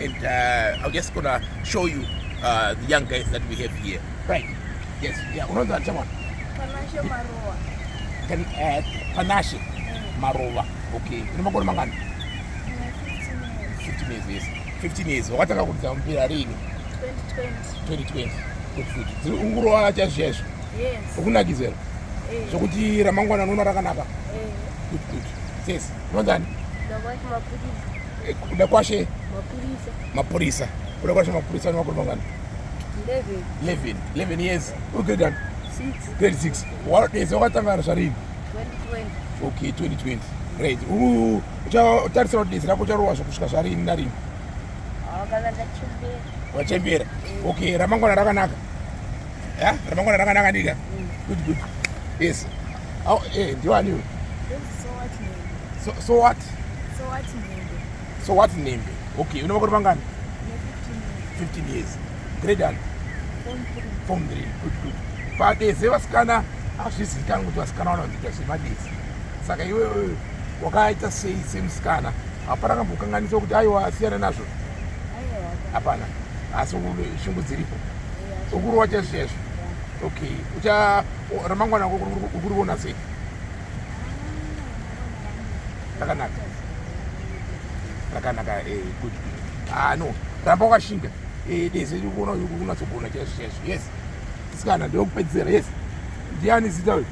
and uh, I'm just gonna show you uh, the young guys that we have here. Right. Yes. Yeah. Unaweza chama. Panashe Marova. Can uh, Panashe mm. Marova. Okay. Ni makoni mangani? 15 years. 15 years. 15 years. Wakataka kudzama mpira rini? 2020. 2020. Good food. Ziri ungurowa chazvizvo. Yes. Ukunakizera. Eh. Zvokuti ramangwana unoona rakanaka. Eh. Good good. Yes. Unonzani? Ndakwachi mapiritsi. Eh, kuda kwashe mapurisa mapurisa kuda kwashe mapurisa ni makore mangani 11 11 years uri grade ani grade 6 wanodeza wakatanga ari zvarini okay 2020 great uchatarisira kuti dezi rako ucharowa zvokusvika zvarini narini wachembera eh. okay ramangwana rakanaka ya ramangwana rakanaka ndika mm. good good yes Au, eh, ndiwani uyu? So, so what? So what Nembe? So what Nembe? Okay, una makore mangani? 15 years. Grade and? Form 3. Good, good. Padeze vasikana hazvizivikanwi kuti vasikana vanoita zvemadezi. Saka iwe wakaita sei semusikana? Hapana kambokanganiswa kuti aiwa asiyana nazvo? Hapana. Asi shungu dziripo. Ukurowa chaizvo chaizvo. Okay, ucha ramangwana ukuriona sei? Rakanaka. Rakanaka eh good. Ah no, ramba wakashinga. Eh deze ukuona unatsogona cheshe cheshe. Yes. Sikana ndokupedzera. Yes. Ndiani zita wewe?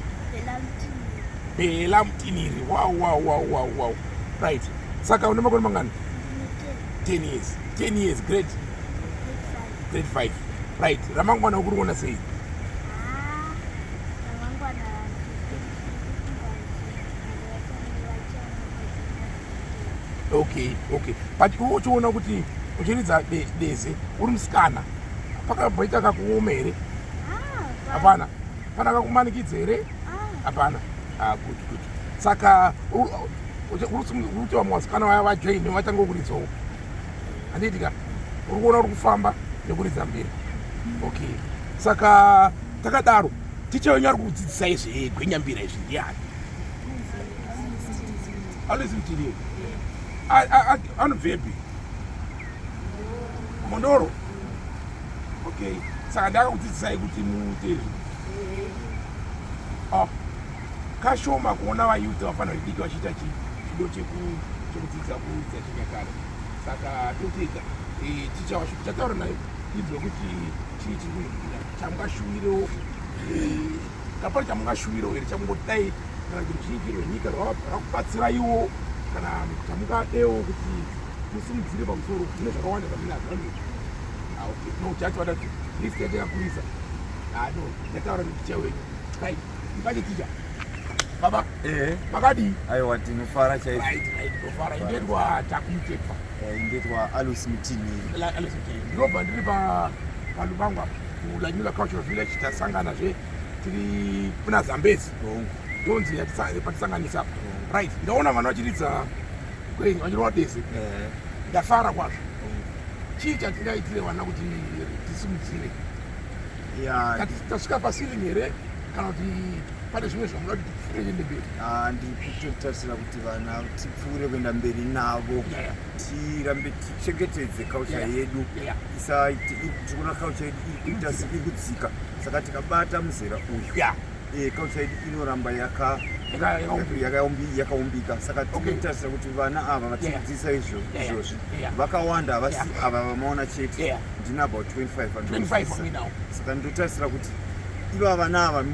Bela Mtiniri. Wow wow wow wow wow. Right. Saka une makore mangani? 10 years. 10 years. Great. Great grade 5 right ramangwana ukuri kuona sei okay okay but iwe uchiona kuti uchiridza deze uri musikana pakamboita kakuoma here ah, hapana pana kakumanikidza here ah. hapana ah, good good saka uruti vamwe vasikana vaya vajoine vatanga kuridzawo handiitika uri kuona uri kufamba nekuridza mbiri okay saka takadaro ticha wenyu ari kudzidzisa izvi gwenyambira izvi ndiani alisi mtiri anobvepi mondoro okay saka ndakakudzidzisai kuti muite izvi ah, kashoma kuona vayudzi vafana vediki vachiita chido chekudzidza kuudza chinyakare saka totega eh, ticha washo tichataura nayo idzwe kuti chii chiri chamungashuwirewo eh, kapari chamungashuwirewo here chamungodai kana kuti ruzhinji rwenyika rwakubatsiraiwo kana chamungadewo kuti musimudzire pamusoro zvine zvakawanda zvamunazvano ah, no chacho vatati list yatakakurisa ano ah, yataura nekucha wenyu Mukati tija. Baba. Eh. Makadi. Ayo wati nufara chai. Right, right. Nufara indetwa takumtepa. Eh, indetwa Alus Mtini. La Alus Mtini. Ndinoba ndiri pa palubangu apa. Kulanyula cultural village tasangana zve tiri kuna Zambezi. Oh. Ndonzi yatisangana patisanganisa apa. Oh. Right. Ndaona vanhu vachiridza kwenyu vachirova deze. Eh. Ndafara kwazvo. Oh. Chii chatingaitire vana kuti tisimudzire? Yeah. Tasvika paceiling here kana kuti pane zvimwe zvamuda kuti tipfuure kuende mberi ah, ndiri kutotarisira kuti vana tipfuure kuenda mberi navo tirambe tichengetedze kaucha yedu isaiti tikuona kaucha yedu iri kuita sekudzika saka tikabata muzera uyu Eh, culture yedu inoramba yaka Yakayaumbi- yakayaumbi- yakaumbika saka Okay. tinotarisa kuti vana ava vatidzidzisa Yeah. izvo Yeah, yeah. izvozvi Yeah. vakawanda havasi Yeah. ava vamaona chete Yeah. ndina about 25 and 25 for me now. saka ndotarisira kuti iva vana ava mm,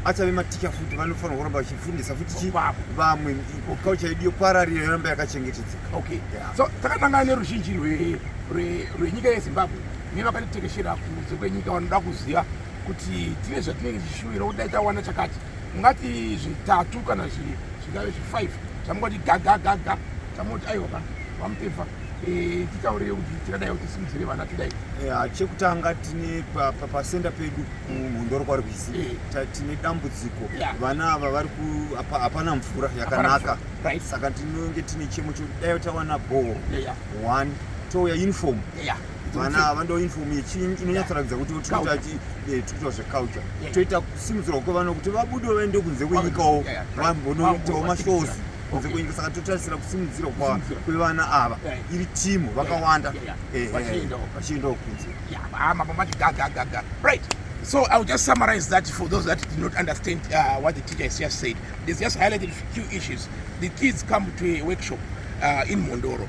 achave maticha futi vanofanira kuramba vachifundisa futi chi- Vamwe. vamwe kaucha yedu yopararira yoramba yakachengetedzeka okay Yeah. so takatangana neruzhinji rwe- rwe- rwenyika yezimbabwe nevakatitekeshera kunze kwenyika vanoda kuziva kuti tine zvatinenge tichishuvira kuti dai tawana chakati mungati zvitatu kana zvingave zvifive zvamungati gagagaga chamoti aiwa kana vamutevha eh, titaurire kuti tingadai kuti simudzire vana tidai eh, chekutanga tine pasenda pedu kumhondoro kwari kuisi eh. tine dambudziko vana ava vari hapana mvura yakanaka saka tinenge tine chemo chodai tawana bhoo one touya uniform vana ava ndoinfom yechinyi inonyatsoratidza kuti tikuita eh, zveculture toita kusimudzirwa kwevana kuti vabude vaende kunze kwenyikawo vambonoitawo mashows kunze kwenyika saka totarisira kusimudzirwa kwevana ava iri timu vakawanda vachiendawo kunze So I'll just summarize that for those that did not understand uh, what the teacher has just said. There's just highlighted a few issues. The kids come to a workshop uh, in Mondoro.